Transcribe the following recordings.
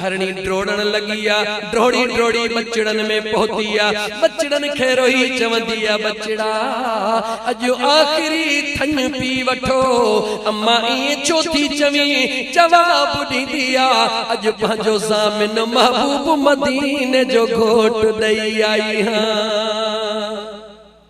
هرڻي ڊوڙڻ لڳي آ، ڊوڙي ڊوڙي ٻچڙن ۾ پهتي آ، ٻچڙن کي روئي چوندي آ، ٻچڙا اڄ آخري ٿڃ پي وٺو، امان ائين ڇو ٿي چوين؟ جواب ڏيندي آ، اڄ پنهنجو ضامن محبوب مديني جو گهوٽ ڏئي آئي هان.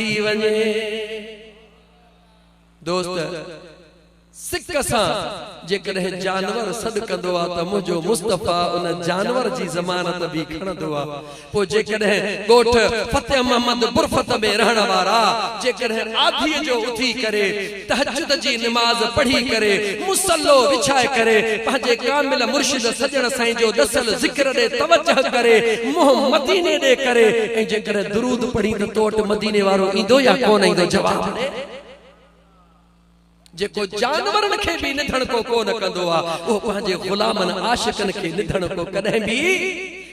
ٿي وڃي. دوست، سڪ سان جيڪڏهن جانور سڏ ڪندو آ ته منهنجو مصطفيٰ ان جانور جي ضمانت به کڻندو آ. پوء جيڪڏهن ڳوٺ فتح محمد برفت ۾ رهڻ وارا جيڪڏهن آڌيء جو اٿي ڪري تهجد جي نماز پڙهي ڪري، مصلو وڇائي ڪري، پنهنجي ڪامل مرشد سڄڻ سائين جو ڏسيل ذڪر ڏي توجه ڪري، منهن مديني ڏي ڪري ۽ جيڪڏهن درود پڙهين ته تو وٽ مديني وارو ايندو يا ڪونه ايندو جواب ڏي. جيڪو جانورن کي به نڌڻڪو ڪونه ڪندو آهي، اهو پنهنجي غلامن عاشقن کي نڌڻڪو ڪڏهن به.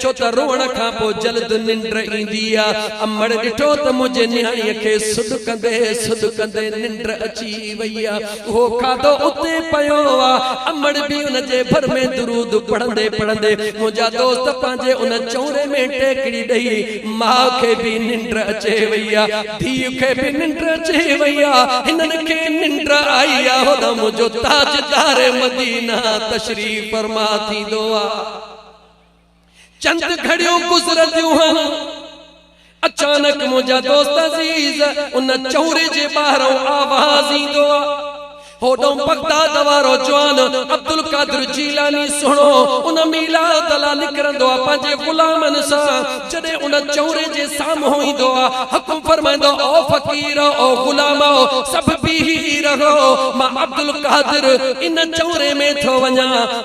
ڇو ته روئڻ کان پوء جلد ننڊ ايندي آ. امڙ ڏٺو ته منهنجي نياڻيء کي سڏڪندي سڏڪندي ننڊ اچي وئي آ. اهو کاڌو اتي پيو آ. امڙ به ان جي ڀر ۾ درود پڙهندي پڙهندي منهنجا دوست پنهنجي ان چؤري ۾ ٽيڪڙي ڏئي. ماء کي به ننڊ اچي وئي آ. ڌيء کي به ننڊ اچي وئي آ. هنن کي ننڊ آئي آ. هوڏانهن منهنجو تاجدار مدينه تشريف فرما ٿيندو آ. چند گهڙيون گذرنديون هن، اچانڪ منهنجا دوست عزيز ان چوري جي ٻاهرئون آواز ايندو آ، هوڏئون بغداد وارو جوان عبدالقادر جيلاني سهڻو ان ميلاد لا نڪرندو آ پنهنجي غلامن سان، جڏهن ان چوري جي سامهون ايندو آ، حڪم فرمائيندو آ، او فقير او غلامؤ سڀ بيهي رهو، مان عبدالقادر ان چوري ۾ ٿو وڃان.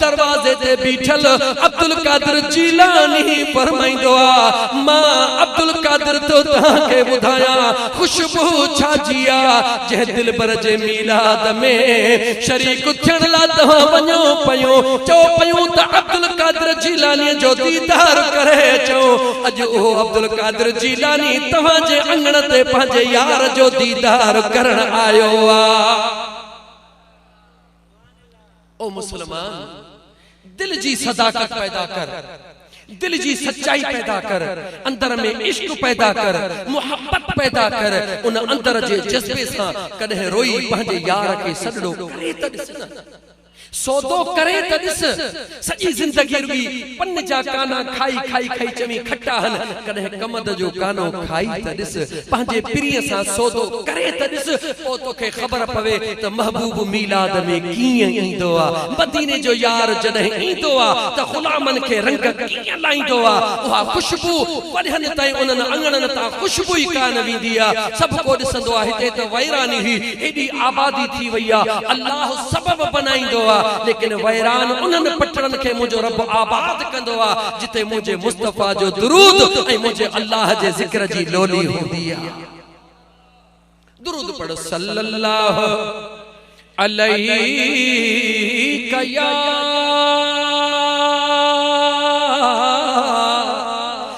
دروازي تي بيٺل عبدالقادر جيلاني فرمائيندو آ، مان عبدالقادر ٿو توهان کي ٻڌايان خوشبو ڇا جي آ، جنهن دلبر جي ميلاد ۾ شريڪ ٿيڻ لا توهان وڃو پيون، چئو پيون ته عبدالقادر جيلاني جو ديدار ڪري اچو، اڄ اهو عبدالقادر جيلاني توهان جي اڱڻ تي پنهنجي يار جو ديدار ڪرڻ آيو آ. او مسلمان! دل جي صداقت پيدا ڪر، دل جي سچائي پيدا ڪر، اندر ۾ عشق پيدا ڪر، محبت پيدا ڪر، ان اندر جي جذبي سان ڪڏهن روئي پنهنجي يار کي سڏڙو ڪري ته ڏس نه! سودو ڪري ته ڏس! سڄي زندگي رڳي پن جا ڪانا کائي کائي کائي چوين کٽا هن ڪڏهن ڪمند جو ڪانو کائي ته ڏس پنهنجي پرينء سان سودو ڪري ته ڏس پوء توکي خبر پوي ته محبوب ميلاد ۾ ڪيئن ايندو آ مديني جو يار جڏهن ايندو آ ته غلامن کي رنگ ڪيئن لائيندو آ اها خوشبو وڙهن تائين انهن اڱڻن تان خوشبو ئي ڪانه ويندي آ سڀڪو ڏسندو آ هتي ته ويراني هئي هيڏي آبادي ٿي وئي آ، الله سبب بنائيندو آ، ليڪن ويران انهن پٽڙن کي منهنجو رب آباد ڪندو آ، جتي منهنجي مصطفيٰ جو درود ۽ منهنجي الله جي ذڪر جي لولي هوندي آ. درود پڙهه صلّي اللّٰه عليك يا.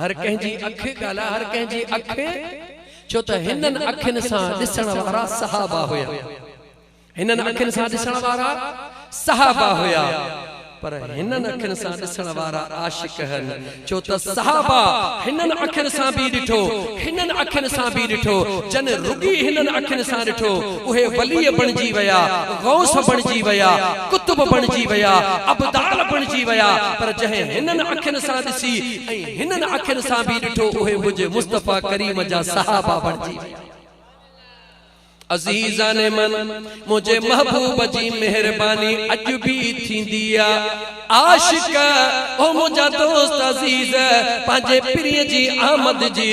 هر ڪنهن جي اک ڳالهاء هر ڪنهن جي اک ڇو ته هنن اکين سان ڏسڻ وارا صحابه هيا هنن اکين سان ڏسڻ وارا صحابه هيا پر هنن اکين سان ڏسڻ وارا عاشق هن ڇو ته صحابه هنن اکين سان به ڏٺو هنن اکين سان به ڏٺو جن رڳي هنن اکين سان ڏٺو اهي ولي بڻجي ويا غوث بڻجي ويا قطب بڻجي ويا ابدال بڻجي ويا پر جنهن هنن اکين سان ڏسي ۽ هنن اکين سان به ڏٺو اهي منهنجي مصطفيٰ ڪريم جا صحابه بڻجي ويا. عزيزان من! منهنجي محبوب جي مهرباني اڄ به ٿيندي آ. عاشق! او منهنجا دوست عزيز! پنهنجي پرينء جي آمد جي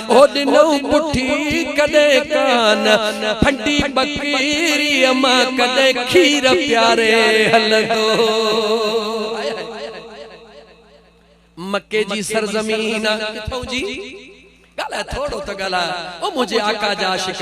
او ڏنئون پٺي ڪڏهن ڪان، ڦنڊي ٻڪريء مان ڪڏهن کير پياري هلندو. مڪي جي سرزمين آ ڪٿئون جي؟ ڳالهاء ٿورو ته ڳالهاء او منهنجي آقا جا عاشق.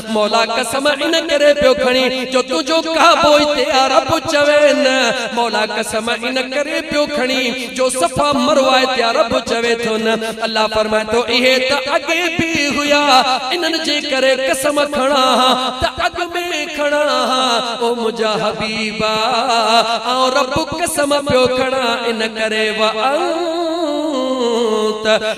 مولا قسم ان ڪري پيو کڻي جو تنهنجو ڪعبو هتي آ رب چوي نه مولا قسم ان ڪري پيو کڻي جو صفا مروه هتي آ رب چوي ٿو نه الله فرمائي ٿو اهي ته اڳي به هيا انهن جي ڪري قسم کڻان ها ته اڳ ۾ کڻان ها او منهنجا حبيبا آئون رب قسم پيو کڻان ان ڪري وانت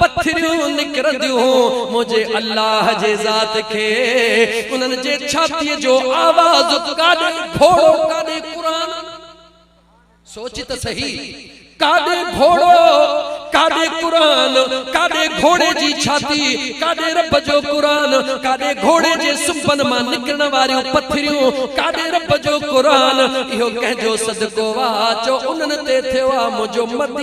پٿريون نڪرنديون منهنجي الله جي ذات کي انهن جي ڇاتيء جو آواز ڪاڏي گهوڙو ڪاڏي قرآن سوچ ته سهي ڪاڏي گهوڙو ڪاڏي قرآن ڪاڏي گهوڙي جي ڇاتي ڪاڏي رب جو قرآن ڪاڏي گهوڙي جي سنبن مان نڪرڻ واريون پٿريون ڪاڏي رب جو قرآن اهو ڪنهن جو صدقو آ جو انهن تي ٿيو آ منهنجو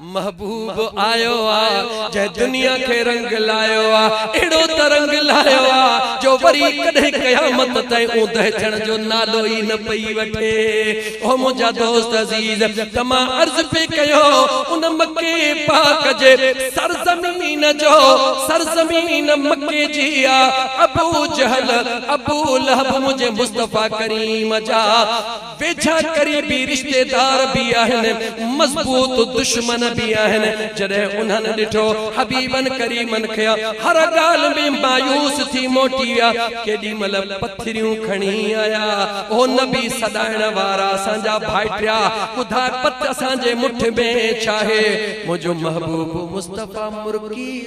محبوب آيو آ جنهن دنيا کي رنگ لايو آ اهڙو ته رنگ لايو آ جو وري ڪڏهن قيامت تائين اوندهه ٿيڻ جو نالو ئي نه پئي وٺي او منهنجا دوست عزيز ته مان عرض پئي ڪيو ان مڪي پاڪ جي سرزمين جو سرزمين مڪي جي آ ابو جهل ابو لهب منهنجي مصطفيٰ ڪريم جا ويجها قريبي رشتيدار به آهن، مضبوط دشمن به آهن، جڏهن انهن ڏٺو حبيبن ڪريمن کي، هر ڳالهه ۾ مايوس ٿي موٽي ويا، ڪيڏي مهل پٿريون کڻي آيا، او نبي سڏائڻ وارا اسان جا ڀائٽيا، ٻڌاء پت اسان جي مٺ ۾ ڇاهي، منهنجو محبوب مصطفيٰ مرڪي.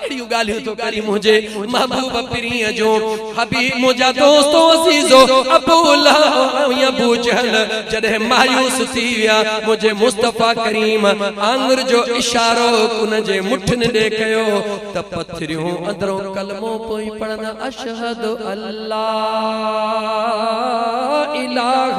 ڪهڙيون ڳالهيون ٿو ڪرين منهنجي محبوب پرينء جون حبيب منهنجا دوست و عزيزو ابو لهب ۽ ابو جهل جڏهن مايوس ٿي ويا منهنجي مصطفيٰ ڪريم آڱر جو اشارو انهن جي مٺين ڏي ڪيو ته پٿريون اندرون ڪلمو پئي پڙهن اشهد الله اله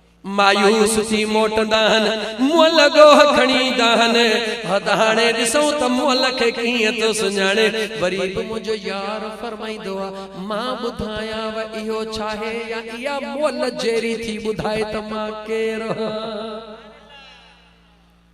مايوس ٿي موٽندا هن، مئل ڏوهه کڻي ايندا هن، هت هاڻي ڏسون ته مئل کي ڪيئن ٿو سڃاڻي، وري به منهنجو يار فرمائيندو آ، مان ٻڌايانء اهو ڇاهي يا اها مئل جيري ٿي ٻڌائي ته مان ڪير هان.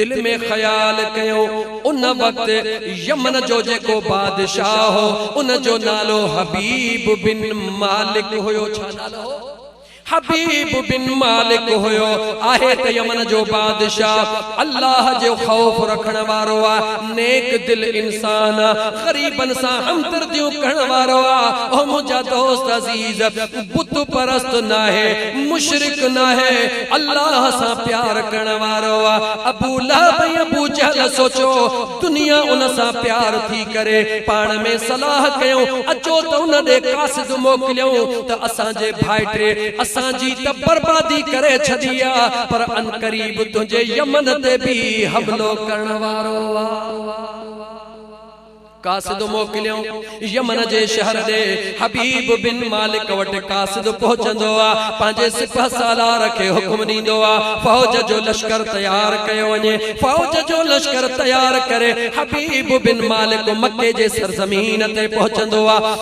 دل ۾ خيال ڪيو ان وقت يمن جو جيڪو بادشاهه هو ان جو نالو حبيب بن مالڪ هيو ڇا نالو هو حبيب بن مالڪ هيو آهي ته يمن جو بادشاهه الله جو خوف رکڻ وارو آ نيڪ دل انسان آ غريبن سان همدرديون ڪرڻ وارو آ اهو منهنجا دوست عزيز بت پرست ناهي مشرڪ ناهي الله سان پيار ڪرڻ وارو آ ابو لهب ۽ ابو جهل سوچو دنيا ان سان پيار ٿي ڪري پاڻ ۾ صلاح ڪيون اچو ته ان ڏي قاصد موڪليون ته اسان جي ڀائٽي اسان جي ته بربادي ڪري ڇڏي آ پر عنقريب تنهنجي يمن تي به حملو ڪرڻ وارو آ. قاصد موڪليون يمن جي شهر ڏي حبيب بن مالڪ وٽ قاصد پهچندو آ پنهنجي سپه سالار کي حڪم ڏيندو آ فوج جو لشڪر تيار ڪيو وڃي فوج جو لشڪر تيار ڪري حبيب بن مالڪ مڪي جي سرزمين تي پهچندو آ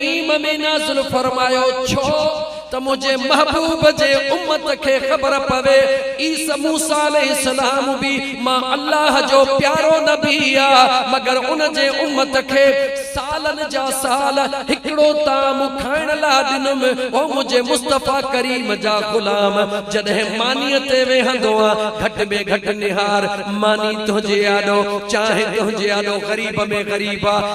ڪريم ۾ نازل فرمايو ڇو ته منهنجي محبوب جي امت کي خبر پوي عيسي موسيٰ عليه السلام به مان الله جو پيارو نبي آ مگر ان جي امت کي سالن جا سال هڪڙو طعام کائڻ لا ڏنم او منهنجي مصطفيٰ ڪريم جا غلام جڏهن مانيء تي ويهندو آ گهٽ ۾ گهٽ نهار ماني تنهنجي آڏو چانهه تنهنجي آڏو غريب ۾ غريب آ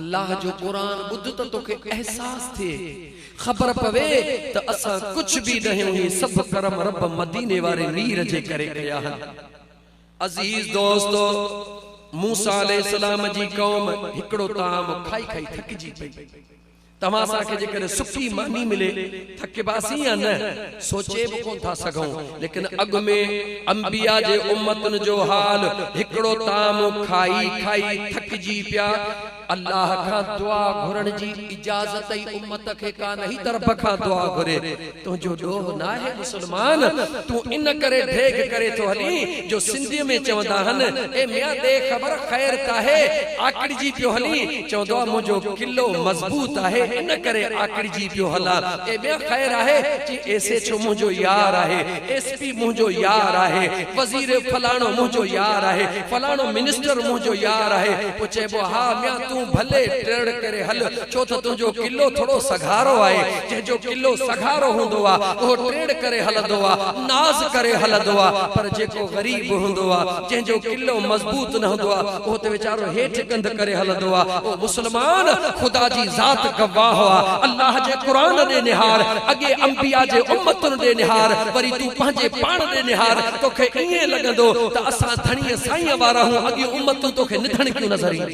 الله جو قرآن ٻڌ ته توکي احساس ٿئي خبر پوي ته اسان ڪجھ به ناهيون هي سڀ ڪرم رب مديني واري مير جي ڪري ڪيا هن عزيز دوستو موسيٰ عليه السلام جي قوم هڪڙو طعام کائي کائي ٿڪجي پئي توهان اسان کي جيڪڏهن سڪي ماني ملي ٿڪباسين يا نه سوچي به ڪونه ٿا سگهون ليڪن اڳ ۾ انبيا جي امتن جو حال هڪڙو طعام کائي کائي ٿڪجي پيا الله کان دعا گهرڻ جي اجازت ئي امت کي ڪانه هي ته رب کان دعا گهري تنهنجو ڏوهه ناهي مسلمان، تون ان ڪري ڍيڳ ڪري ٿو هلين جو سنڌيء ۾ چوندا آهن، اي ميان ڏي خبر خير ڪاهي، آڪڙجي پيو هلين، چوندو آهي منهنجو قلعو مضبوط آهي ان ڪري آڪڙجي پيو هلان، اي ميان خير آهي، چين ايس ايڇ او منهنجو يار آهي، ايس پي منهنجو يار آهي، وزير فلاڻو منهنجو يار آهي، فلاڻو منسٽر منهنجو يار آهي، پوء چئبو آهي ها ميان تون ڀلي ٽرڙ ڪري هل، ڇو ته تنهنجو قلعو ٿورو سگهارو آهي. جنهن جو قلعو سگهارو هوندو آهي، اهو ٽرڙ ڪري هلندو آهي، ناز ڪري هلندو آهي، پر جيڪو غريب هوندو آهي، جنهن جو قلعو مضبوط نه هوندو آهي، اهو ته ويچارو هيٺ ڪنڌ ڪري هلندو آهي. او مسلمان! خدا جي ذات گواهه آهي، الله جي قرآن ڏي نهار، اڳئين انبياء جي امتن ڏي نهار، وري تون پنهنجي پاڻ ڏي نهار، توکي ائين لڳندو ته اسان ڌڻيء سائينء وارا آهيون، اڳيون امتون توکي نڌڻڪيون نظر اينديون.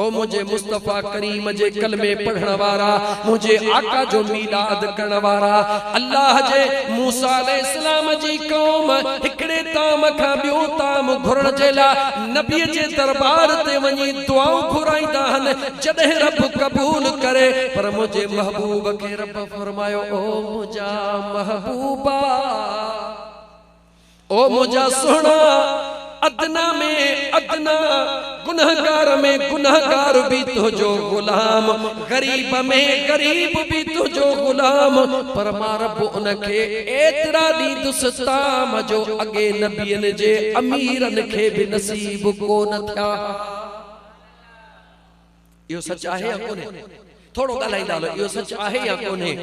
او منهنجي مصطفيٰ ڪريم جي ڪلمي پڙهڻ وارا، منهنجي آقا جو ميلاد ڪرڻ وارا، الله جي موسيٰ عليه السلام جي قوم هڪڙي طعام کان ٻيو طعام گهرڻ جي لاء نبي جي دربار تي وڃي دعائون گهرائيندا هن جڏهن رب قبول ڪري پر منهنجي محبوب کي رب فرمايو او منهنجا محبوبا! او منهنجا سهڻا! ادنيٰ ۾ ادنيٰ گنهگار ۾ گنهگار به تنهنجو غلام، غريب ۾ غريب به تنهنجو غلام، پر مان رب ان کي ايترا ڏيندس طعام جو اڳي نبين جي اميرن کي به نصيب ڪونه ٿيا ها. اهو سچ آهي يا ڪونهي؟ ٿورو ڳالهائيندا هلو، اهو سچ آهي يا ڪونهي؟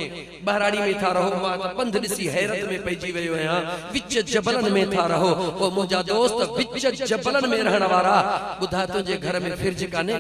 ٻهراڙي ۾ ٿا رهو؟ مان ته پنڌ ڏسي حيرت ۾ پئجي ويو آهيان، وچ جبلن ۾ ٿا رهو؟ او منهنجا دوست، وچ جبلن ۾ رهڻ وارا، ٻڌاء تنهنجي گهر ۾ فرج ڪانهي؟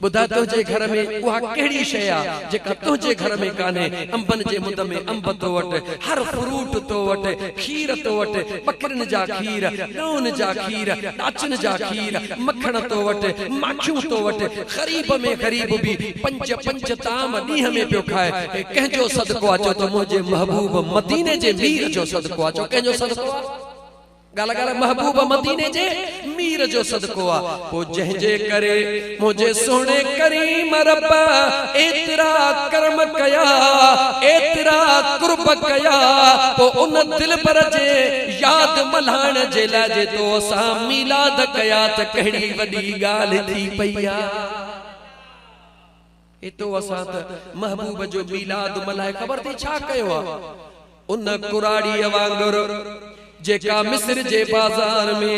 ٻڌاء تنهنجي گهر ۾ اها ڪهڙي شيء آ، جيڪا تنهنجي گهر ۾ ڪانهي؟ انبن جي مند ۾ انب تو وٽ، هر فروٽ تو وٽ، کير تو وٽ، ٻڪرين جا کير، ڳئون جا کير، ڏاچن جا کير، مکڻ تو وٽ، ماکيون تو وٽ، غريب ۾ غريب به پنج پنج طعام ڏينهن ۾ پيو کائي، هي ڪنهن جو صدقو آ چؤ ته منهنجي محبوب مديني جي مير جو صدقو آ، چؤ ڪنهن جو صدقو آ؟ ڳالهه ڳالهه محبوب مديني جي مير جو صدقو آ، پوء جنهن جي ڪري منهنجي سهڻي ڪريم رب ايترا ڪرم ڪيا، ايترا قرب ڪيا، پوء ان دلبر جي. ياد ملهائڻ جي لاء جي تو سان ميلاد ڪيا ته ڪهڙي وڏي ڳالهه ٿي پئي آ. اي تو اسان ته محبوب جو ميلاد ملهائي خبر ٿي ڇا ڪيو آ. ان ڪراڙيء وانگر جيڪا مصر جي بازار ۾.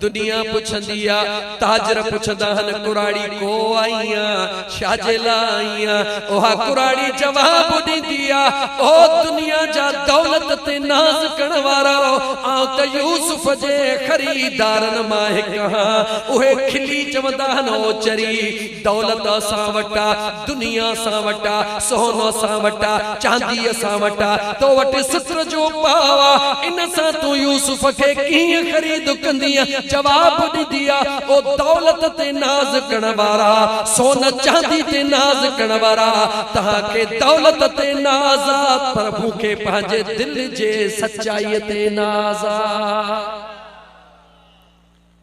دنيا پڇندي آ، تاجر پڇندا هن ڪراڙي ڪو آئي آ، ڇاجي لا آئي آ، اها ڪراڙي جواب ڏيندي آ، او دنيا جا دولت تي ناز ڪرڻ وارائو، آئون ته يوسف جي خريدارن مان هڪ هان، اهي کلي چوندا هن او چري! دولت اسان وٽ آ، دنيا اسان وٽ آ، سون اسان وٽ آ، چاندي اسان وٽ آ، تو وٽ ستر جو پاء آ، ان سان تون يوسف کي ڪيئن خريد ڪندينء؟ جواب ڏيندي آ، او دولت تي ناز ڪرڻ وارا، سون چاندي تي ناز ڪرڻ وارا، توهان کي دولت تي ناز آ، پر مون کي پنهنجي دل جي سچائيء تي ناز آ.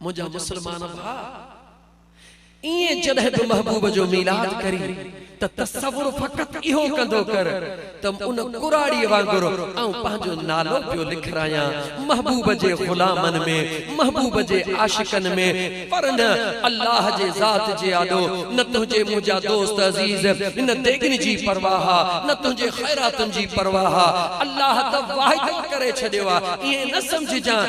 منهنجا مسلمان ڀاء! ايئن جڏهن به محبوب جو ميلاد ڪرين ته تصور فقط اهو ڪندو ڪر ته ان ڪراڙيء وانگر آئون پنهنجو نالو پيو لکرايان محبوب جي غلامن ۾، محبوب جي عاشقن ۾، پر نه الله جي ذات جي آڏو، نه تنهنجي منهنجا دوست عزيز، نه ديڳن جي پرواهه آ، نه تنهنجي خيراتن جي پرواهه آ، الله ته واعدو ڪري ڇڏيو آ، ايئن نه سمجهجان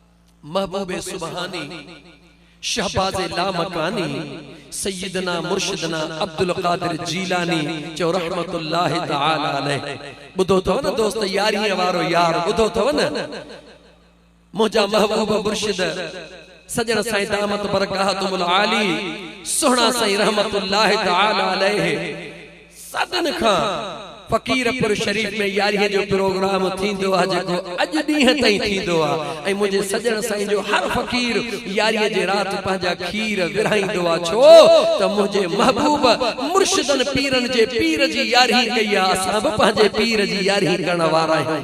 محبوب سبحاني، شهباز لامڪاني، سيدنا مرشدنا عبدالقادر جيلاني چيو رحمة الله تعالٰي عليه ٻڌو اٿو نه دوست يارينء وارو يار ٻڌو اٿو نه منهنجا محبوب مرشد سڄڻ سائين دامت برڪاتهم العالي سهڻا سائين رحمة الله تعالٰي عليه صدن کان فقيرپور شريف ۾ يارهين جو پروگرام ٿيندو آهي جيڪو اڄ ڏينهن تائين ٿيندو آهي ۽ منهنجي سڄڻ سائين جو هر فقير يارهين جي رات پنهنجا کير ورهائيندو آهي ڇو ته منهنجي محبوب مرشدن پيرن جي پير جي يارهين ڪئي آهي اسان به پنهنجي پير جي يارهين ڪرڻ وارا آهيون.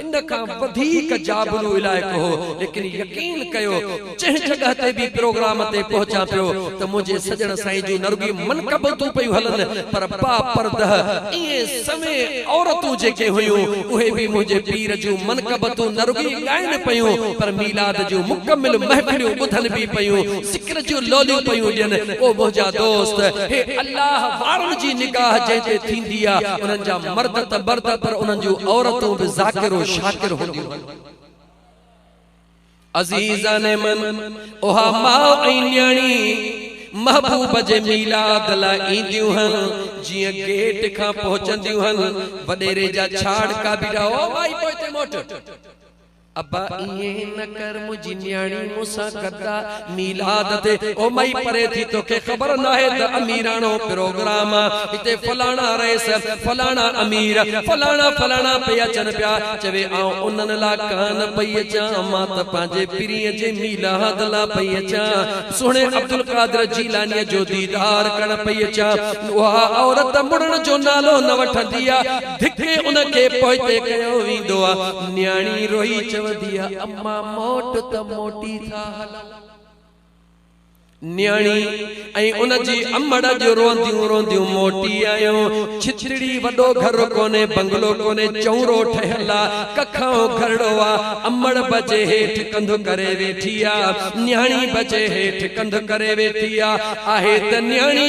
ان کان وڌيڪ جابلو علائقو هو، ليڪن يقين ڪيو جنهن جڳهه تي به پروگرام تي پهچان پيو ته منهنجي سڄڻ سائين جون نه رڳي منقبتون پيون هلن پر باپرده ائين سوين عورتون جيڪي هيون اهي به منهنجي پير جون منقبتون نه رڳي ڳائن پيون پر ميلاد جون مڪمل محفليون ٻڌن به پيون ذڪر جون لوليون پيون ڏين او منهنجا دوست هي الله وارن جي نگاهه جنهن تي ٿيندي آ انهن جا مرد ته مرد پر انهن جون عورتون به ذاڪر و شاڪر هونديون هن. عزيزان من اها ماء ۽ نياڻي محبوب جي ميلاد لاء اينديون هن جيئن گيٽ کان پهچنديون هن وڏيري جا ڇاڙڪا بيٺا او مائي پوئتي موٽ. ابا ائين نه ڪر منهنجي نياڻي مون سان گدا ميلاد تي او مئي پري ٿي توکي خبر ناهي ته اميراڻو پروگرام آ هتي فلاڻا رئيس فلاڻا امير فلاڻا فلاڻا پئي اچن پيا چوي آئون انهن لا ڪانه پئي اچان مان ته پنهنجي پرينء جي ميلاد لا پئي اچان سهڻي عبدالقادر جيلانيء جو ديدار ڪرڻ پئي اچان اها عورت مڙهڻ جو نالو نه وٺندي آ ڌڪي ان کي پوئتي ڪيو ويندو آ. نياڻي روئي چوندي آ اما موٽ ته موٽي ٿا هلون. نياڻي ۽ ان جي امڙ اڄ روئنديون روئنديون موٽي آيون. ڇتڙي وڏو گهر ڪونهي، بنگلو ڪونهي، چؤرو ٺهيل آ، ڪکائون گهرڙو آ. امڙ به جي هيٺ ڪنڌ ڪري ويٺي آ. نياڻي به جي هيٺ ڪنڌ ڪري ويٺي آ. آهي ته نياڻي.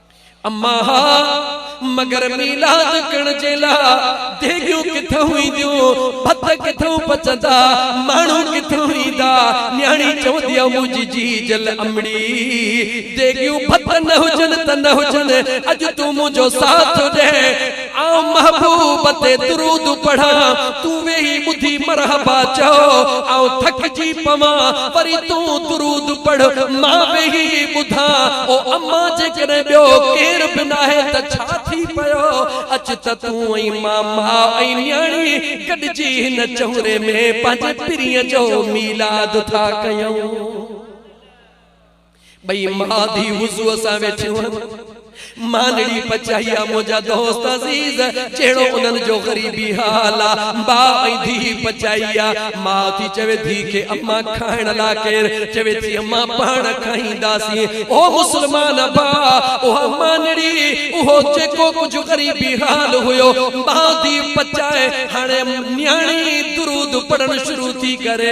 امان ها مگر ميلاد ڪڻ جي لا ديڳيون ڪٿئون اينديون ڀت ڪٿئون پچندا ماڻهو ڪٿئون ايندا نياڻي چوندي آ منهنجي جي جل امڙي ديڳيون ڀت نه هجن ته نه هجن اڄ تون منهنجو ساٿ ڏي آئون محبوب تي درود پڙهان، تون ويهي ٻڌي مرحبا چئو، آئون ٿڪجي پوان، وري تون درود پڙهه، مان ويهي ٻڌان، او اما جيڪڏهن ٻيو ڪير به ناهي ته ڇا ٿي پيو، اچ ته تون ۽ مان ماء ۽ نياڻي گڏجي هن چهوري ۾ پنهنجي پرينء جو ميلاد ٿا ڪيون. ٻئي ماء ڌيء وضوء سان ويٺيون هن. مانڙي پچائي آ منهنجا دوست عزيز، جهڙو انهن جو غريبي حال آ. ماء ۽ ڌيء پچائي آ. ماء ٿي چوي ڌيء کي اما کائڻ لا ڪير؟ چوي ٿي اما پاڻ کائينداسين. او مسلمان ڀاء! اها مانڙي، اهو جيڪو ڪجهه غريبي حال هيو، ماء ڌيء پچائي هاڻي نياڻي درود پڙهڻ شروع ٿي ڪري.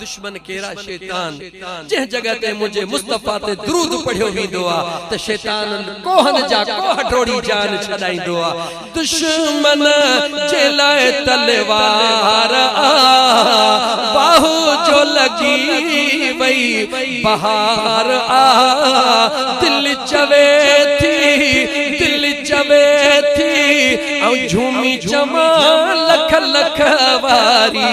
دشمن ڪهڙا شيطان جنهن جڳهه تي منهنجي مصطفيٰ تي درود پڙهيو ويندو آ ته شيطان ڪوهن جا ڪوهه ڊوڙي جان ڇڏائيندو آ دشمن جي لاء تلوار آ واهه جو لڳي وئي بهار آ دل چوي ٿي دل چوي ٿي آئون جهومي چوان لک لک واري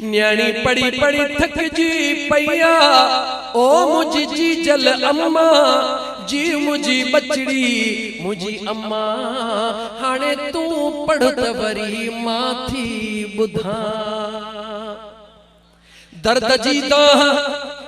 نياڻي پڙهي پڙهي ٿڪجي پئي آ. او منهنجي جيجل اما جي منهنجي ٻچڙي منهنجي اما هاڻي تون پڙهه ته وري مان ٿي ٻڌان درد جي دانهن.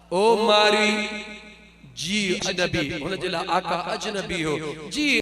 او مارئي! جيء اجنبي! هن جي لاء آقا اجنبي هو. جيء!